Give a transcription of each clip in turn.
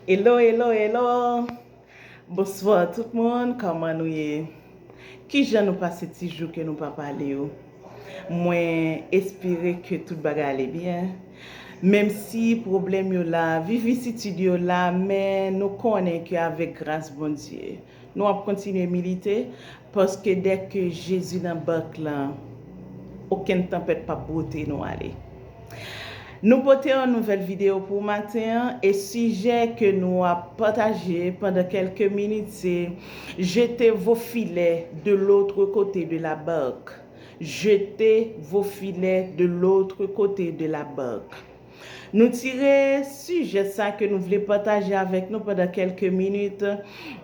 Hello hello hello Bonswa tout moun kòman nou ye Kijan nou pase ti jou ke nou pa pale yo Mwen espere ke tout bagay ale byen Menm si pwoblèm yo la vivisitid yo la men nou konnen ke avèk gras Bondye Nou ap kontinye milite, paske dèke Jezi nan bak lan, okenn tanpèt pap bwote nou ale. Nou pote yon nouvèl videyo pou w maten an, e sijè ke nou ap pataje pandan kèlke minit se, Jete vo filè de lotre kote de la barque. Jete vo filè de lotre kote de la barque. Nou tire sijè sa ke nou vle pataje avèk nou pandan kèlke minit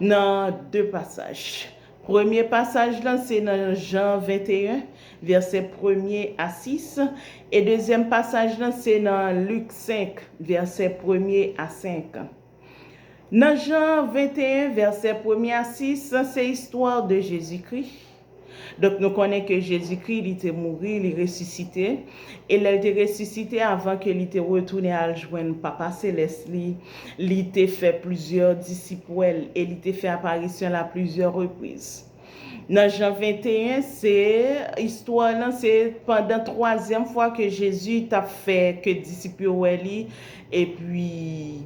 nan de pasaj. Premye pasaj lan se nan Jan 21, vèsè premye a 6, e dezyèm pasaj lan se nan Lik 5, vèsè premye a 5. Nan Jan 21 vèsè premye a 6 se istwa de Jezikri. Donk nou konnen ke Jezikri li te mouri, li resisite, e lè l te resisite avan ke li te retounen al jwenn Papa Selès li, li te fè plizyè disip wè l e li te fè aparisyon l a plizyè repriz. Nan Jan 21, se, istwa lan se pandan twazyèm fwa ke Jezi t ap fè ke disip yo wè li, epi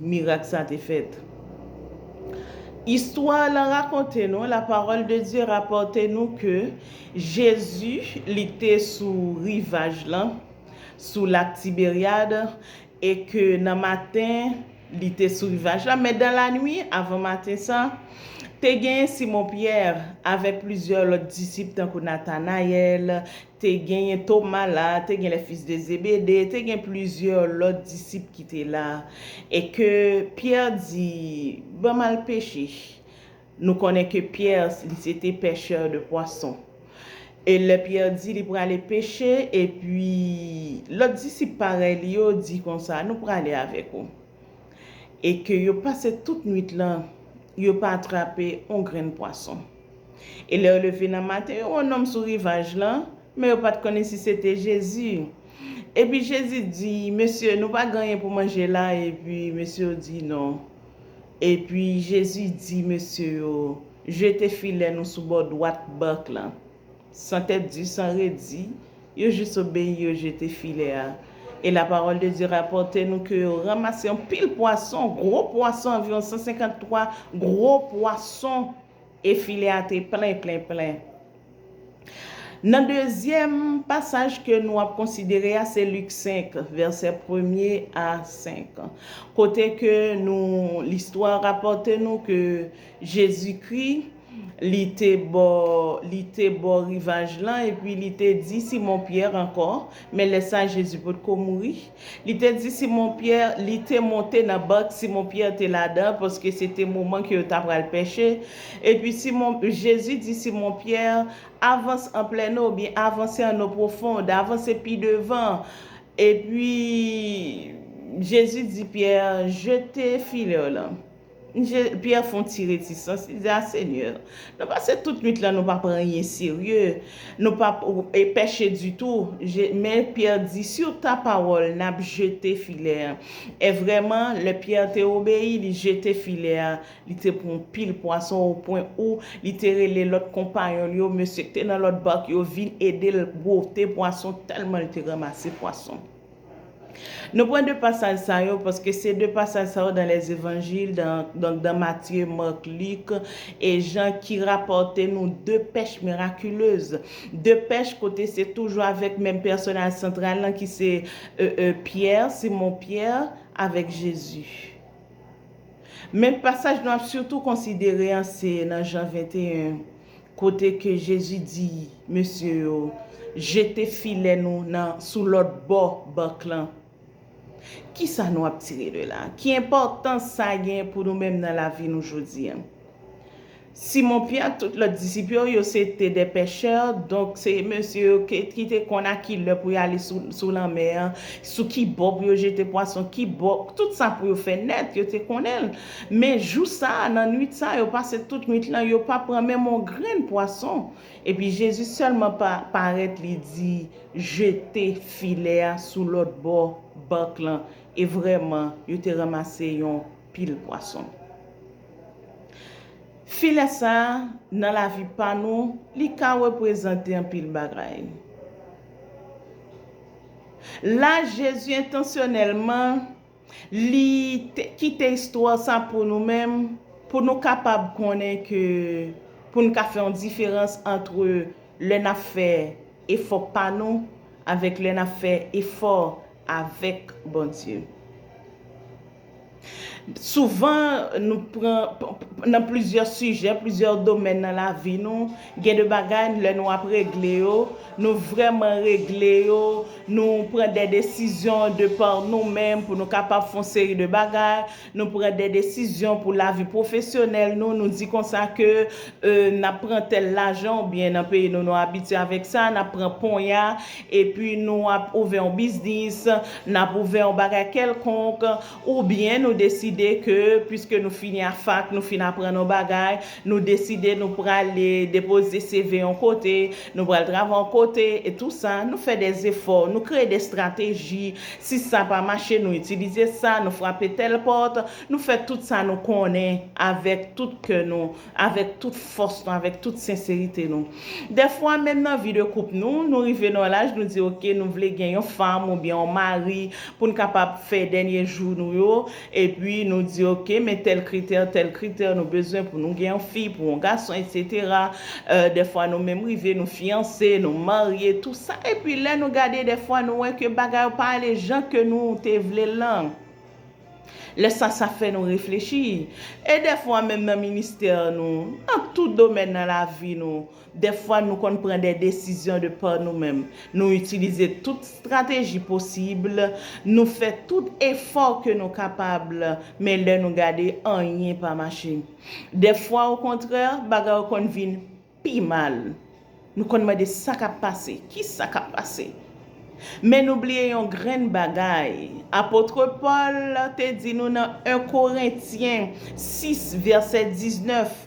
mirak sa te fèt. Istwa lan rakonte nou, la parole de Dieu rapporte nou ke Jezi li te sou rivaj lan, sou lak Tiberiad, e ke nan maten, li te sou rivaj la, men dan lanwi, avan maten sa, te genyen Simon Pyè, avèk plizyè lòt disip tankou Natanayèl, te genyen Toma la, te gen les fils de Zébédée, te gen plizyè lòt disip ki te la, e ke Pyè di, Ban m al peche. Nou konnen ke Pierre li se te pechè de pwason. E lè Pierre di li prale peche, epi lòt disip parèy li yo di konsa, nou prale avèk ou. E ke yo pase tout nwit lan, yo pa atrape on grenn pwason. E lè yo leve nan maten, yo wè on nonm sou rivaj lan, men yo pa t konnen si se te Jezi. Epi Jezi di, Mesye, nou pa gen anyen pou manje la? Epi mesye yo di, Non. Epi, Jezi di mesye yo, Jete filè nou sou bò dwat bak lan. San tèt di, san redi, yo jis obeyi, yo jete filè a. E lapawòl de Dye rapòte nou ke yo ranmase yon pil pwason, gwo pwason, anviwon sansenkant twa gwo pwason. E filè a te plen, plen, plen. Nan dezyèm pasaj ke nou ap konsidere a se Lik 5, vèsè premye a 5, kote ke nou, listwa rapòte nou ke Jezikri, Li te bò, Li te bò rivaj lan, epi Li te di Simon Pyè ankò, men lè sa a Jezi potko mouri, Li te di Simon Pyè li te monte nan bak Simon Pyè te ladan paske se te moman ke yo ta pral pèche. Epi Simon, Jezi di Simon Pyè, Avans an plèn o, oubyen avanse an o pwofond, avanse pi devan. Epi Jezi di Pyè, Jete filè w lan. Zye Pyè fon ti retisans, li di, A Senyè, nou pase tout nwit lan nou pa pran anyen serye, nou pa pèche ditou. Men Pyè di, Sur ta parole, n ap jete filè a. E vrèman, lè Pyè te obeyi, li jete filè a, li te pran pil pwason opwen ou li te rele lòt konpayon l yo, mesye k te nan lòt bak yo vin ede l bwote pwason tèlman l te ranmase pwason. Nou pran 2 pasaj sa yo paske se 2 pasaj sa yo dan lè Zevanjil, donk dan Matye, Mark, Lik e Jan ki rapòte nou 2 pèch mirakilez. 2 pèch kote se toujou avèk menm pèsonaj santral lan ki se Pyè, Simon Pyè avèk Jezi. Men pasaj nou ap sitou konsidere an se nan Jan 21. kote ke Jezi di mesye yo, Jete filè nou nan sou lòt bò bak lan. Kisa nou ap tire de la? Ki enpòtans sa gen pou nou menm nan lavi nou jodi a? Simon Pyè ak tout lòt disip yo, yo se te de pechè, donk se mesye yo ki te konn a ki lè pou yo ale sou lanmè a, sou ki bò pou yo jete pwason, ki bò, tout sa pou yo fè nèt, yo te konnen l. Men jou sa a, nan nuit sa a, yo pase tout nuit lan, yo pa pran menm on grenn pwason. Epi Jezi sèlman pa, parèt, li di, Jete filè a sou lòt bò bark lan. E vrèman, yo te ranmase yon pil pwason. Filè sa a, nan lavi pa nou, li ka reprezante anpil bagay. La Jezi entansyonèlman. Li kite istwa sa pou nou menm, pou nou kapab konnen ke pou n ka fè yon diferans antre lè n ap fè efò pa nou avèk lè n ap fè efò avèk Bondye. Souvan, nan plizyè sijè, plizyè domèn nan lavi nou, Gen de bagay lè nou ap regle yo, nou vrèman regle yo, nou pran dè desizyon de pa nou menm pou nou kapab fè yon seri de bagay, nou pran dè desizyon pou lavi pwofesyonèl nou, nou di konsa ke n ap pran tèl lajan ou byen nan peyi nou nou abitye avèk sa, n ap pran ponya epi nou ap ouvè yon biznis, n ap ouvè yon bagay kèlkonk ou byen nou deside ke piske nou fini a fak, nou fin aprann yon bagay, Nou deside nou prale depoze CV yon kote, nou pral travay yon kote, e tou sa, nou fè de zefò, nou kreye de strateji, si sa pa mache nou itilize sa, nou frape tèl pòt, nou fè tout sa nou konnen avèk tout kè nou, avèk tout fòs nou, avèk tout senserite nou. Dèfwa menm nan vi de koup nou, nou rive nan yon laj nou di ok nou vle gen yon fanm oubyen yon mari pou n kapab fè dènye jou nou yo, Epi nou di ok men tèl kritè, tèl kritè nou bezwen pou nou gen yon fi, pou yon gason etsetera, dèfwa nou menm rive nou fiyanse, nou marye tou sa epi lè nou gade dèfwa nou wè ke bagay yo pa ale jan ke nou te vlel lan, lè sa sa fè nou reflechi e dèfwa menm nan ministè nou, nan tout domèn nan lavi nou. Dèfwa nou konn pran dè desizyon de pa nou menm. Nou itilize tout strateji posib, nou fè tout efò ke nou kapab, men lè nou gade anyen pa mache. Dèfwa okontrè, bagay yo konn vin pi mal. Nou konn mande sa kap pase? Kisa kap pase? Men nou bliye yon grenn bagay. Apotre Pòl te di nou nan 1 Korentyen 6 vèsè 19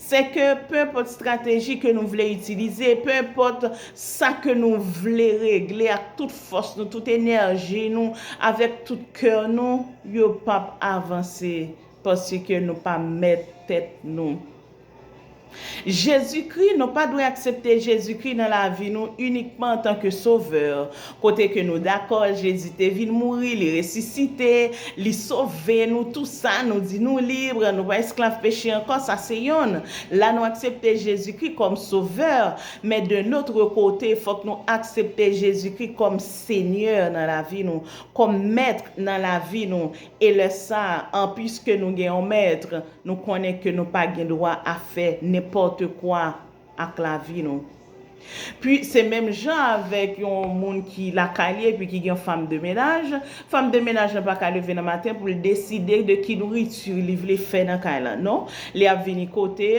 Se ke pe enpòt strateji ke nou vle itilize, pe enpòt sa ke nou vle regle ak tout fòs nou, tout enèji nou, avèk tout kè nou, yo p ap avanse paske nou pa mèt tèt nou. Jezikri, nou pa dwe aksepte Jezikri nan lavi nou inikman antanke Sovè. Kote ke nou dakò Jezi te vin mouri, li resisite, li sove nou tou sa, nou di nou lib, nou pa esklav peche ankò, sa se yonn. La nou aksepte Jezi Kri kòm sovè, men de notre kote fòk nou aksepte Jezi Kri kòm Senyè nan lavi nou, kòm Mèt nan lavi nou, e lè sa an piske nou gen yon Mèt, nou konnen ke nou pa gen dwa a fè nenpòte kwa. ak lavi nou. Pwi se menm jan avèk yon moun ki lakay li epi ki gen yon fanm de menaj, fanm de menaj lan pa ka leve nan maten pou l deside de ki nouriti li vle fè nan kay lan. Non, li ap vini kote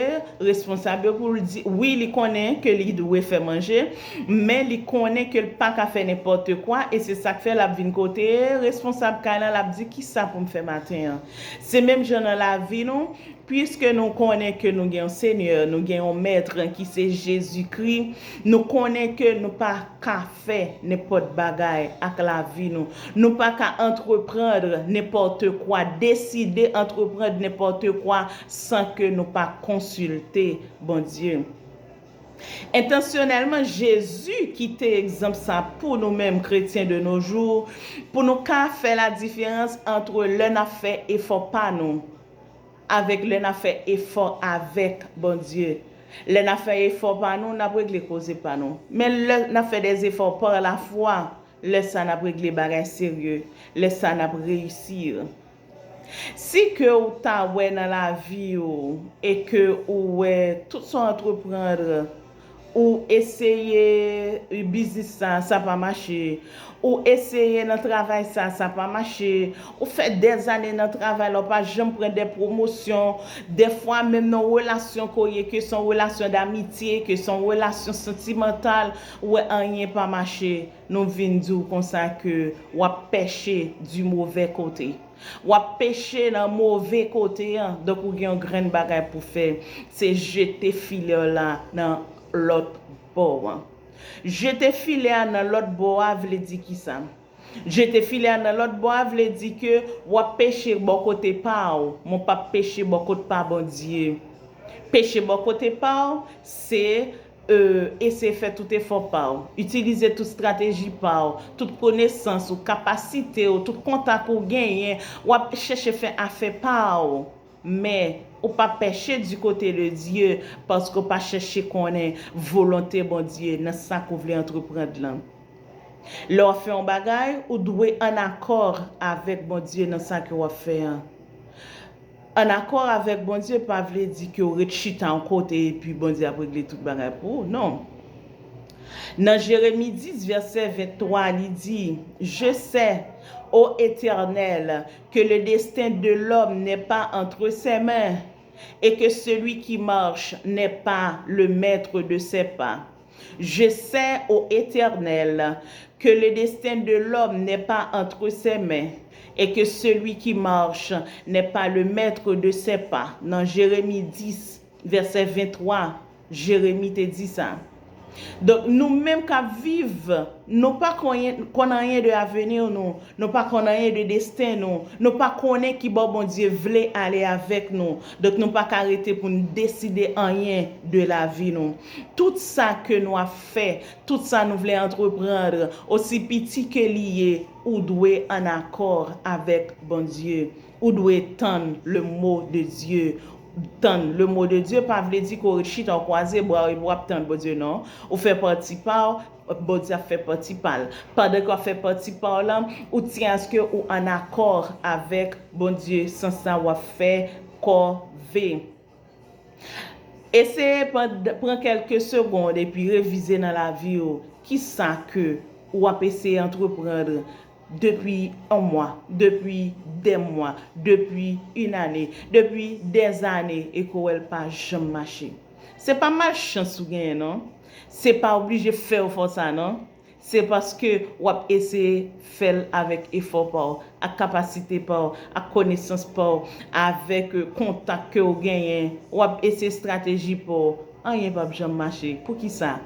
responsab yo pou l di, wi li konnen ke li dwe fè manje, men li konnen ke l pa ka fè nenpòte kwa e se sa k fè l ap vin kote responsab kay lan l ap di kisa pou m fè maten an. Se menm jan nan lavi nou. Piske nou konnen ke nou gen yon Senyè, nou gen yon Mèt ki se Jezikri, nou konnen ke nou pa ka fè nenpòt bagay ak lavi nou. Nou pa ka antreprandr nenpòtekwa, deside antreprandr nenpòtekwa san ke nou pa konsilte Bondye. Entansyonèlman, Jezi kite egzanp sa pou nou menm kretyen de no jou, pou nou ka fè ladiferans antre lè n ap fè efò pa nou, Avèk lè na fè efò avèk Bondye. Lè na fè efò pa nou, nap regle koze pa nou. Men lè na fè des efforts par la foi, lè sa nap regle bagay serye, lè sa nap reyisir. Si ke ou ta wè nan lavi ou e ke ou wè tout sa w entreprendre, Ou eseye u biznis sa, sa pa mache. Ou eseye nan travay sa, sa pa mache. Ou fè dèzane nan travay la, ou pa janm pran de pwomosyon. Dèfwa menm nan relasyon ke w ye, ke se yon relasyon damitye, ke se yon relasyon santimantal, ou wè anyen pa mache. Nou vin di w konsa ke w ap pèche di movè kote. Wap peche nan move kote an, donk ou gen yon grenn bagay pou fè, se jete filè w la nan lòt bò an. Jete filè a nan lòt bò a vle di kisa? Jete filè a nan lòt bò a vle di ke wap peche bò kote pa w, men w pap peche bò kot pa Bondye. Peche bò kote pa w, se Eseye fè tout efò pa w. Itilize tout strateji pa w, tout konesans ou, kapasite w, tout kontak ou genyen. W ap chèche fè afè pa w. Men, ou pa pèche di kote de Dye, paske w pa chèche konnen volonte Bondye nan sa ke w vle antreprand lan. Lè w ap fè yon bagay, ou dwe an akò avèk Bondye nan sa ke w ap fè an. An akò avèk Bondye pa vle di ke w ret chita yon kote epi Bondye ap regle tout bagay pou ou. Non. Nan Jeremi 10 vèsè 23 a li di, Je sais, O Etènèl, ke le desten de lòm nè pa antre sè men, e ke seli ki marche nè pa le mètre de sè pa. Je sè, ô Etènèl, ke le desten de lòm nè pa antre sè men, e ke selui ki march nè pa le mètre de sè pa, nan Jeremi 10, vèsè 23, Jeremi te di sa. Donk, nou menm k ap viv, nou pa konn anyen de aveni nou, nou pa konn anyen de desten nou, nou pa konnen ki bò Bondye vle ale avèk nou, donk nou pa ka rete pou n deside anyen de lavi nou. Tout sa ke nou ap fè, tout sa nou vle entreprendre, osi piti ke li ye, ou dwe an akor avek Bondye. Ou dwe tann le mo de Dye. Tann le mo de Dye pa vle di ke w ret chita, w kwaze bra w epi w ap tann Bondye non. Ou fè pati pa w, Bondye ap fè pati pa l. Pandan ke w ap fè pati pa w lan, ou tyen aske ou an akor avek Bondye san sa w ap fè kòve. Eseye pran kèlke segond epi revize nan lavi ou kisa ke ou ap eseye antreprandr depi 1 mwa, depi 2 mwa, depi yn ane, depi dèzane e ke w wè l pa janm mache. Se pa malchans ou genyen non. Se pa oblije fè yo fè w sa non. Se paske w ap eseye fè l avèk efò pa w, ak kapasite pa w, ak konesans pa w, avèk kontak ke w genyen, w ap eseye estrateji pa w, anyen p ap janm mache. Poukisa?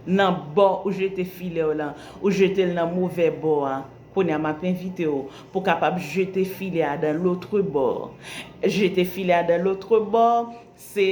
Nan bò ou jete filè w lan, ou jete l nan movè bò a. Kounye a, m ap envite w pou w kapab jete filè a dan lotre bò. Jete filè a dan lotre bò, se.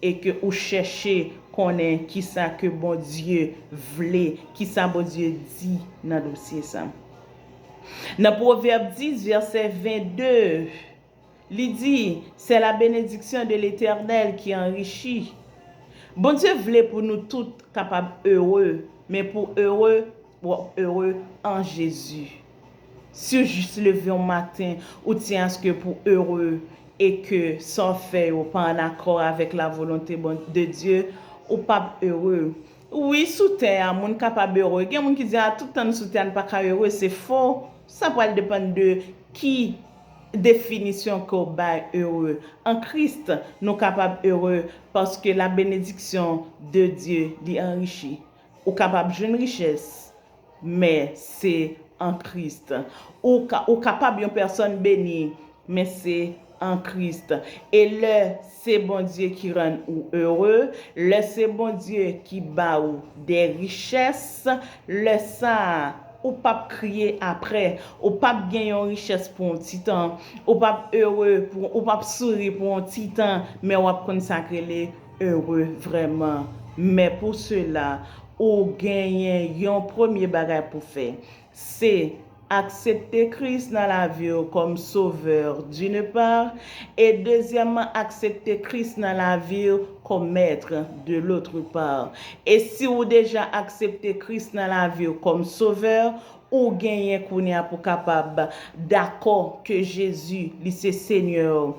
e ke ou chèche konnen kisa ke Bondye vle, kisa Bondye di nan dosye sa. Nan Pwovèb 10 vèsè 22, li di, Se la benediksyon de Letènèl ki anrichi. Bondye vle pou nou tout kapab ere, men pou ere, wap ere an Jezi. Si w jis leve yon maten, ou tyen aske pou w ere e ke sa w fè yo pa an akò avèk lavolonte de Dye, ou pap ere. Wi, sou tè a, moun kapab ere. Gen moun ki di, a, tout tan n sou tè a, n pa ka ere. Se fo. Sa pral depann de ki definisyon ke w bay ere. An Kris, nou kapab ere paske labenediksyon de Dye, li anrichi. Ou kapab jwenn richès, men se an Krist. Ou kapab yon pèsòn beni, men se an Krist. E lè se Bondye ki rann ou ere, lè se Bondye ki ba ou de richès, lè sa a, ou p ap kriye apre. Ou p ap gen yon richès pou yon ti tan, ou p ap ere, ou p ap souri pou yon ti tan, men w ap konn sa k rele heureux vrèman men pou sela ou genyen yon premye bagay pou fè se aksepte Kris nan laviw kòm Sauveur d'une part e dezyèmman aksepte Kris nan laviw kòm Maître de l'autre part e si ou deja aksepte Kris nan laviw kòm Sauveur ou genyen kounya pou kapab dakò ke Jésus li se Seigneur